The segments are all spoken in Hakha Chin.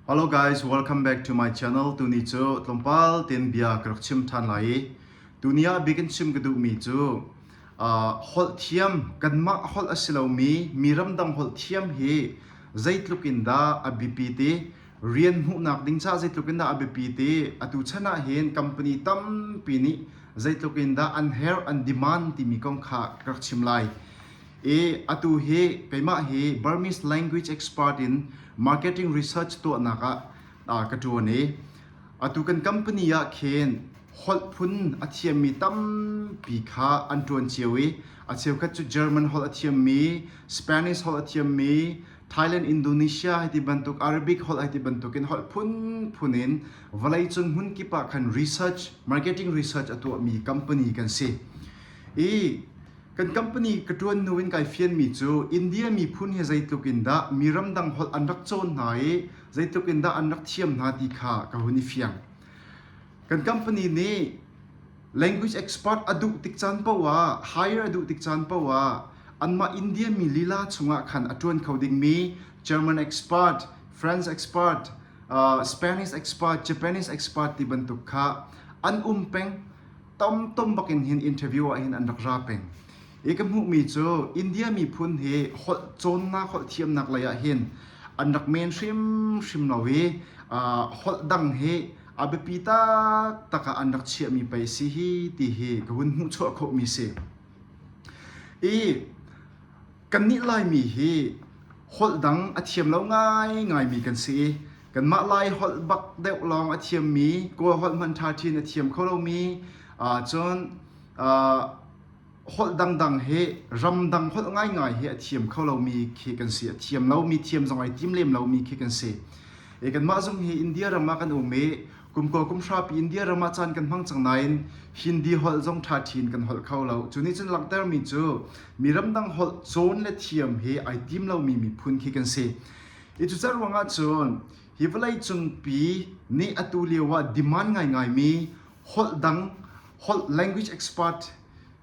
Hello guys, welcome back to my channel. Tuni cu tlawmpal ten bia ka rak chim ṭhan lai i tuni ah bikin chim ka duhmi cu uh, holh thiam kanmah holh a si lomi mi ramdang holh thiam hi zeitluk in dah a biapi ti rian hmuhnak ding ca zeitluk in dah a biapi ti atu chan ah hin company tampi nih zeitluk in dah an herh an demand timi kong kha ka rak chim lai. Atu hi keimah hi Burmese language expert in marketing research tuahnak ah ka ṭuan i atu kan company ah khin holh phun a thiammi tampi kha an ṭuan cio i a cheukhat cu German holh a thiammi, Spanish holh a thiammi, Thailand, Indonesia hi ti bantuk, Arabic holh hi ti bantuk in holh phunphun in vawleicung hmunkip ah khan research, marketing research a tuahmi company kan si. Kan company ka ṭuan hnu in kai fianmi cu India miphun hi zeitluk in dah mi ramdang holh an rak cawn hna i zeitluk in dah an rak thiam hna ti kha ka hun i fiang. Kan company nih language expert a duh tik caan poah, hire a duh tik caan poah, anmah India mi lila chungah khan a ṭuan kho dingmi German expert, French expert, uh, Spanish expert, Japanese expert ti bantuk kha an um peng. tam tom bakin hin interview ah hin an rak ra peng i ka hmuhmi cu India miphun hi holh cawnnak holh thiamnak lei ah hin an rak men hrimhrim lo i uh, holh dang hi a biapi taktak ah an rak chiahmi pei si hi ti hi ka hun hmuh chuah khawhmi si i Kannih Laimi hi holh dang a thiam lo ngaingaimi kan si i kanmah Lai holh bak deuh lawng a thiammi Kawl holh hmanh ṭha chin a thiam kho lomi ahcun holh dangdang hi ramdang holh ngaingai hi a thiam kho lomi khi kan si a thiam lomi thiam zong ai tim lem lomi khi kan si kanmah zung hi India ram ah kan um i Kumkua kumhrapi India ram ah caan kan hmang cang nain Hindi holh zong ṭha ṭhin kan holh kho lo. Cu nih cun langhtermi cu mi ramdang holh cawn le thiam hi ai tim lomi miphun khi kan si. Hi cucar ruangah cun hi vawleicungpi nih atu lio ah demand ngaingaimi holh dang holh language expert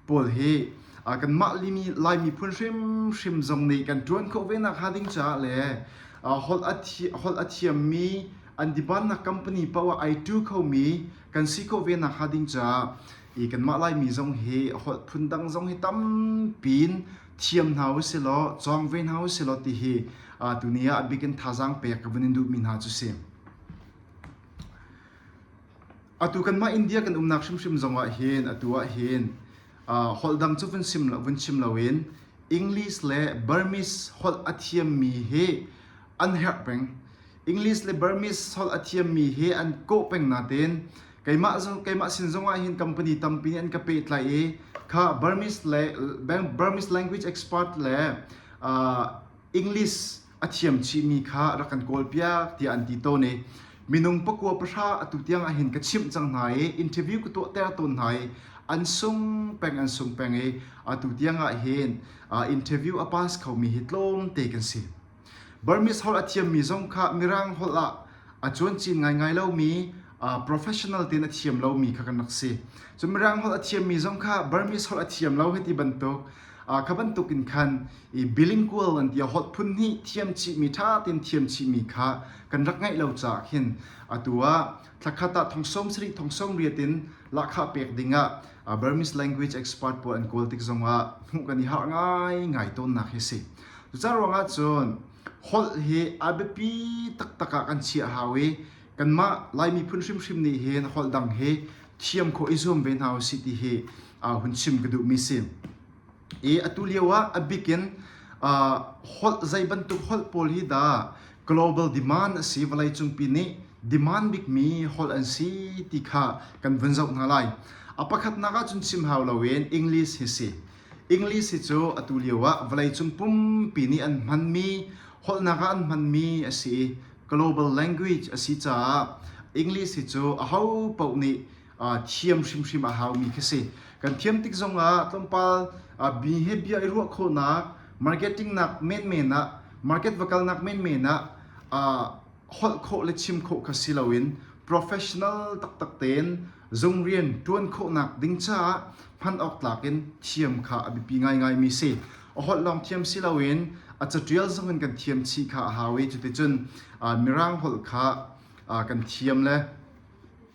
pawl hi kanmah Lai miphun hrimhrim zong nih kan ṭuan khawh ve nakhnga ding caah le holh a thiammi an dibannak company poah ai ṭu khomi kan si khawh ve nakhnga ding caah i kanmah Laimi zong hi holh phundang zong hi tampi in thiam hna u si law cawng ve hna u si law ti hi tuni ah a bikin thazaang pek ka vun in duhmi hna cu si. Atu kanmah India kan umnak hrimhrim zongah hin atu ah hin uh, holh dang cu vun sim lo vun chim loin English le Burmese holh a thiammi hi an herh peng. English le Burmese holh a thiammi hi an kawh peng natin keimah keimah sin zongah hin company tampi nih an ka pehtlai i kha Burmese le Burmese language expert le uh, English a thiam chihmi kha rak kan kawlpiak tiah an ti tawn i minung pakua pahra atu tiang ahhin ka chimh cang hna i interview ka tuahter tawn hna i an sung peng an sung peng i atu tiang ahhin interview a pass khomi hi tlawmte kan si Burmese holh a thiammi zong kha Mirang holh ah a cuancin ngaingai lomi professional tein a thiam lomi kha kan rak si cun mirang holh a thiammi zong kha burmese holh a thiam lo hiti bantuk kha bantuk in khan i bilingual an tia holh phun hi thiam chihmi ṭha tein thiam chihmi kha kan rak ngaih lo caah hin atu ah thlakhat ah thongsawm sarih thongsawm riat in lahkhah pek dingah burmese language expert pawl an kawl tik zongah hmuh kan i harh ngaingai tawnnak hi si cucaah ruangah cun holh hi a biapi taktak ah kan chiah hau i kanmah Lai miphun hrimhrim nih hin holh dang hi thiam khawh i zuam ve hna u sih ti hi hun chim ka duhmi si. I atu lio ah a bik in holh zei bantuk holh pawl hi dah global demand a si vawleicungpi nih demand bikmi holh an si ti kha kan vun zoh hna lai. A pakhatnak ahcun chim hau loin English hi si. English hi cu atu lio ah vawleicung pumpi nih an hmanmi holhnak ah an hmanmi a si i global language a si caah English hi cu aho paoh nih thiam hrimhrim a haumi khi si. Kan thiam tik zong ah tlawmpal behavior i ruah khawhnak marketing nak menmen ah market va kalnak menmen ah holh khawh le chim khawh kha si loin professional taktak tein zung rian ṭuan khawhnak ding caah hman awk tlak in thiam kha a biapi ngaingaimi si. A holh lawng thiam si loin a caṭial zong in kan thiam chih kha a hau i cuticun mirang holh kha kan thiam le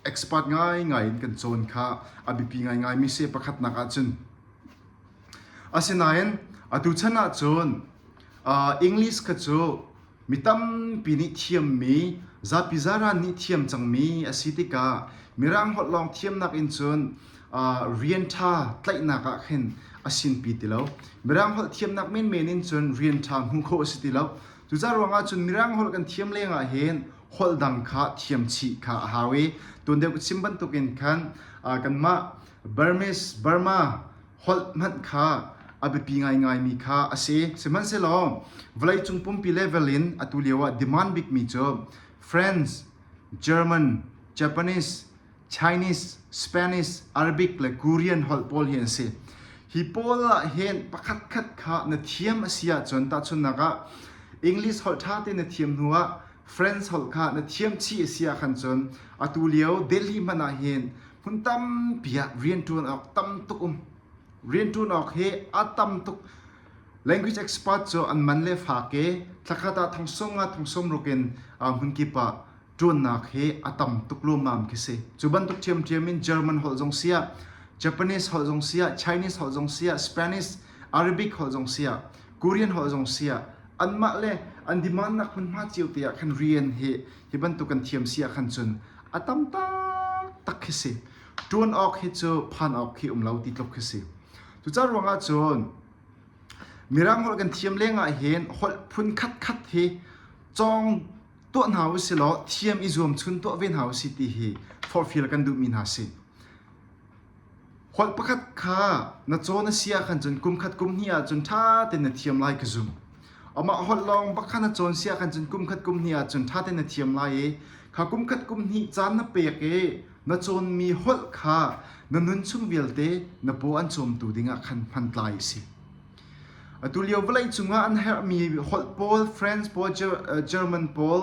expert ngaingai in kan cawn kha a biapi ngaingaimi si. Pakhatnak ahcun asinain atu chan ahcun English kha cu Mi tampi nih thiammi, zapi zaran nih thiam cangmi a si tikah Mirang holh lawng thiamnak in cun rian ṭha tlaihnak ah khin a sinpi ti lo. Mirang holh thiamnak menmen in cun rian ṭha hmu khawh a si ti lo. Cucaah ruangah cun Mirang holh kan thiam lengah hin holh dang kha thiam chih kha a hau i tun deuh ka chim bantukin khan kanmah Burmese, Burma holh hmanh kha a biapi ngaingaimi kha a si. Sihmanhsehlaw vawleicung pumpi level in atu lio ah demand bikmi cu French, German, Japanese, Chinese, Spanish, Arabic le Korean holh pawl hi an si. Hi pawl ah hin pakhatkhat kha na thiam a si ahcun tahchunhnak ah English holh ṭha te na thiam hnu ah French holh kha na thiam chih a si ah khan cun atu lio Delhi hmanh ah hin Hmun tampi ah rianṭuan awk tam tuk um. Rianṭuan awk hi a tam tuk. Language expert cu an man le faak i thlakhat ah thongsum nga thongsum rukin hmun kip ah ṭuannak hi a tam tuk luamam khi si. Cu bantuk ṭhiamṭhiam in German holh zong siah, Japanese holh zong siah, Chinese holh zong siah, Spanish, Arabic holh zong siah, Korean holh zong siah, anmah le an demand nak hmunhma cio te ah khan rian hi Hi bantuk kan thiam si ahkhan cun a tam taktak khi si. Ṭuan awk hi cu phan awk khi um lo ti tluk khi si. Cucaah ruangah cun Mirang holh kan thiam lengah hin holh phun khat khat hi cawng tuah hna u si law thiam i zuamchun tuah ve hna u si ti hi forhfial kan duhmi hna si. Holh pakhat kha na caw na si ahkhan cun kumkhat kum hnih ahcun ṭha tein na thiam lai ka zumh. Amah holh lawng bak kha na cawn si ahkhan cun kumkhat kum hnih ahcun ṭha tein na thiam lai i kha kumkhat kum hnih caan na pek i na cawnmi holh kha na nunchung vialte na paw an cawmtu dingah khan hmantlai a si. Atulio vawlei cungah an herhmi holh pawl French pawl, German pawl,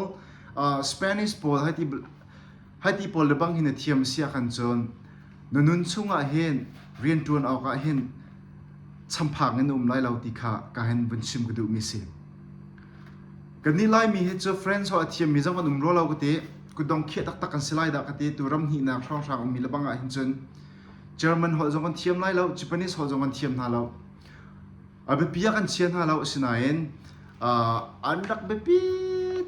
Spanish pawl hai ti Hi ti pawl lebang hin a thiam a si ahkhan cun na nun chungah hin rianṭuan awkah hin champhang in um lai lo ti kha ka hen vun chim ka duhmi si. Kan nih laimi hi cu friends ho a thiammi zong an um rua lo ka ti kudong khiah taktak kan si lai dah ka ti tu ram hnih nak hrawnghrang ummi lebang ah hin cun German ho zong an thiam lai lo Japanese ho zong an thiam hna lo a biapi ah kan chia hna lo asinain uh, an rak biapi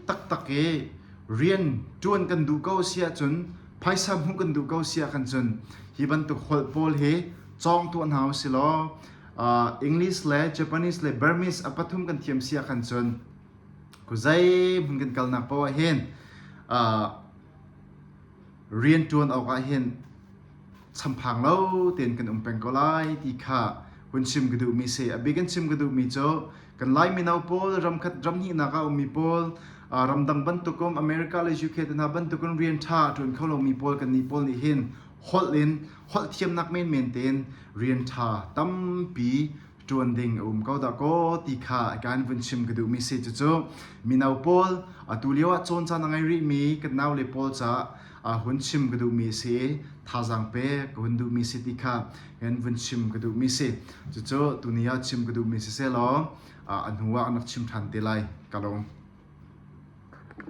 taktak i rian ṭuan kan duh ko si ahcun phaisa hmuh kan duh ko si ahkhan cun hi bantuk holh pawl hi cawng tuah hna u si law uh, English le Japanese le Burmese a pathum kan thiam si ahkhan cun kuzai mun kan kalnak poah hin uh, rian ṭuan awkah hin champhang lo tein kan um peng ko lai ti kha hun chim ka duhmi si a bik in chim ka duhmi cu kan lai mino pawl ram khat ram hnihnak ah ummi pawl ramdang bantukum America le UK te hna bantukin rian ṭha ṭuan kho lomi pawl kan nih pawl nih hin holh in holh thiamnak menmen tein rian ṭha tampi ṭuan ding a um ko da kaw ti kha a kan vun chim ka duhmi si cucu mino pawl atu lio ah cawn caan a ngei rihmi kan naule pawl ca a hun chim ka duhmi si thazang pe ka hun duhmi si ti kha kan vun chim ka duhmi si cucu tuni ah chim ka duhmi si se law a hnu ah anak chim ṭhan te lai ka lawm